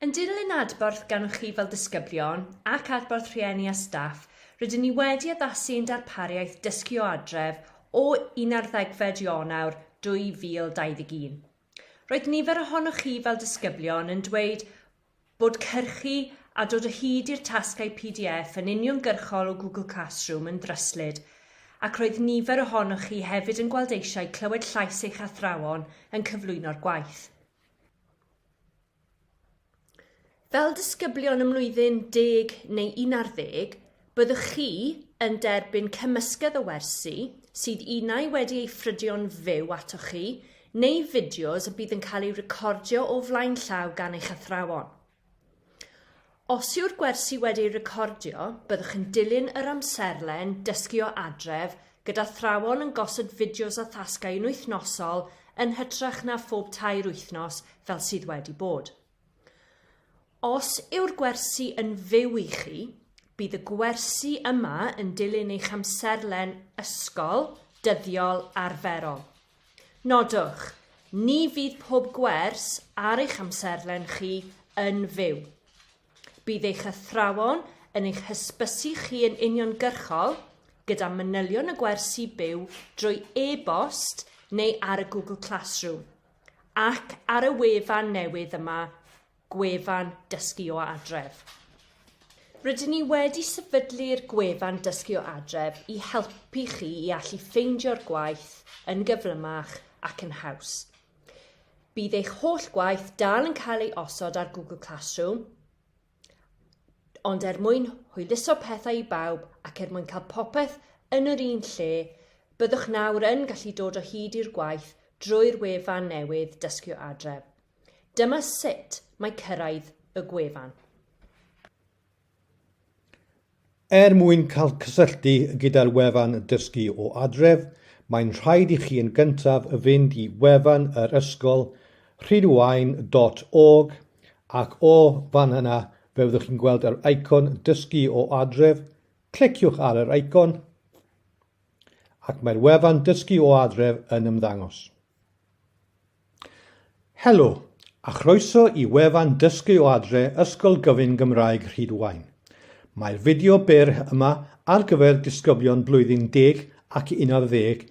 Yn dilyn adborth gan chi fel disgyblion ac adborth rhieni a staff, rydyn ni wedi addasu ein darpariaeth Dysgu o Adref o un ar ddegfed Ionawr 2021. Roedd nifer ohonoch chi fel disgyblion yn dweud bod cyrchu a dod o hyd i'r tasgau pdf yn uniongyrchol o Google Classroom yn ddryslyd ac roedd nifer ohonoch chi hefyd yn gweld eisiau clywed llais eich athrawon yn cyflwyno'r gwaith. Fel disgyblion ym mlwyddyn deg neu un ar ddeg, byddwch chi yn derbyn cymysgedd o wersi sydd unai wedi ei ffrydio'n fyw atoch chi neu fideos y bydd yn cael eu recordio o flaen llaw gan eich athrawon. Os yw'r gwersi wedi eu recordio, byddwch yn dilyn yr amserlen Dysgu o Adref gyda thrawon yn gosod fideos a thasgau yn wythnosol yn hytrach na phob tair wythnos fel sydd wedi bod. Os yw'r gwersi yn fyw i chi, bydd y gwersi yma yn dilyn eich amserlen ysgol dyddiol arferol. Nodwch, ni fydd pob gwers ar eich amserlen chi yn fyw. Bydd eich athrawon yn eich hysbysu chi yn uniongyrchol gyda manylion y gwersi byw drwy e-bost neu ar y Google Classroom ac ar y wefan newydd yma gwefan Dysgu o Adref. Rydyn ni wedi sefydlu'r gwefan Dysgu o Adref i helpu chi i allu ffeindio'r gwaith yn gyflymach ac yn haws. Bydd eich holl gwaith dal yn cael ei osod ar Google Classroom, ond er mwyn hwyluso pethau i bawb ac er mwyn cael popeth yn yr un lle, byddwch nawr yn gallu dod o hyd i'r gwaith drwy'r wefan newydd Dysgu o Adref. Dyma sut mae cyrraedd y gwefan. Er mwyn cael cysylltu gyda'r wefan Dysgu o Adref, mae'n rhaid i chi yn gyntaf fynd i wefan yr ysgol rhydwain.org ac o fan yna fe fyddwch chi'n gweld yr eicon Dysgu o Adref, cliciwch ar yr eicon ac mae'r wefan Dysgu o Adref yn ymddangos. Helo, a chroeso i wefan Dysgu o Adre Ysgol Gyfun Gymraeg Rhydwaun. Mae'r fideo byr yma ar gyfer disgyblion blwyddyn deg ac unarddeg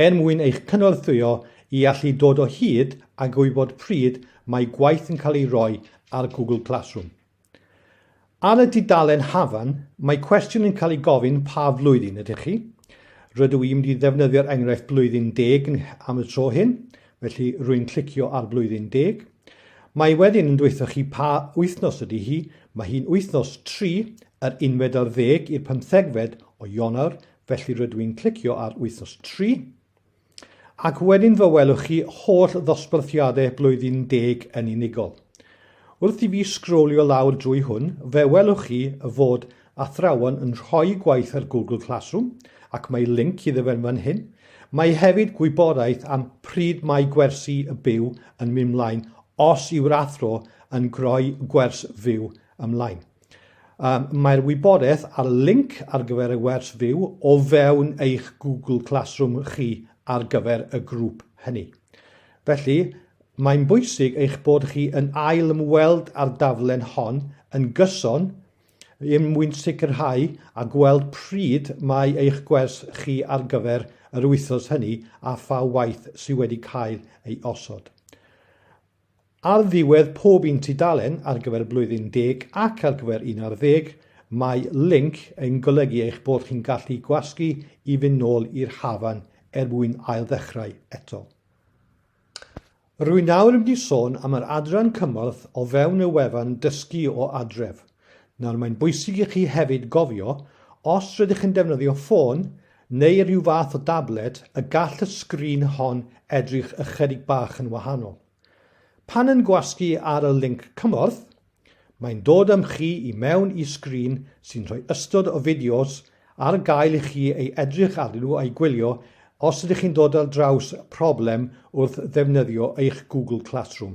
er mwyn eich cynorthwyo i allu dod o hyd a gwybod pryd mae gwaith yn cael ei roi ar Google Classroom. Ar y tudalen Hafan, mae cwestiwn yn cael ei gofyn pa flwyddyn ydych chi? Rydw i'n mynd i ddefnyddio'r enghraifft blwyddyn deg am y tro hyn, felly rwy'n clicio ar blwyddyn deg. Mae wedyn yn dweithio chi pa wythnos ydy hi, mae hi'n wythnos tri, yr unfed ar ddeg i'r pymthegfed o Ionawr, felly rydw i'n clicio ar wythnos tri. Ac wedyn fe welwch chi holl ddosbarthiadau blwyddyn deg yn unigol. Wrth i fi sgrolio lawr drwy hwn, fe welwch chi fod athrawon yn rhoi gwaith ar Google Classroom, ac mae linc iddo fe'n fan hyn. Mae hefyd gwybodaeth am pryd mae gwersi y byw yn mynd mlaen os yw'r athro yn rhoi gwers fyw ymlaen. Mae'r wybodaeth a'r linc ar gyfer y wers fyw o fewn eich Google Classroom chi ar gyfer y grŵp hynny. Felly, mae'n bwysig eich bod chi yn ail ymweld â'r daflen hon yn gyson er mwyn sicrhau a gweld pryd mae eich gwers chi ar gyfer yr wythnos hynny a pha waith sydd wedi cael ei osod. Ar ddiwedd pob un tudalen ar gyfer blwyddyn deg ac ar gyfer un ar ddeg, mae linc yn golygu eich bod chi'n gallu gwasgu i fynd nôl i'r hafan er mwyn ailddechrau eto. Rwy'n nawr yn mynd i sôn am yr adran cymorth o fewn y wefan Dysgu o Adref. Nawr, mae'n bwysig i chi hefyd gofio, os rydych chi'n defnyddio ffôn neu rhyw fath o dablet y gall y sgrin hon edrych ychydig bach yn wahanol. Pan yn gwasgu ar y linc cymorth, mae'n dod â'm chi i mewn i sgrin sy'n rhoi ystod o fideos ar gael i chi ei edrych arnyn nhw a'i gwylio os ydych chi'n dod ar draws problem wrth ddefnyddio eich Google Classroom.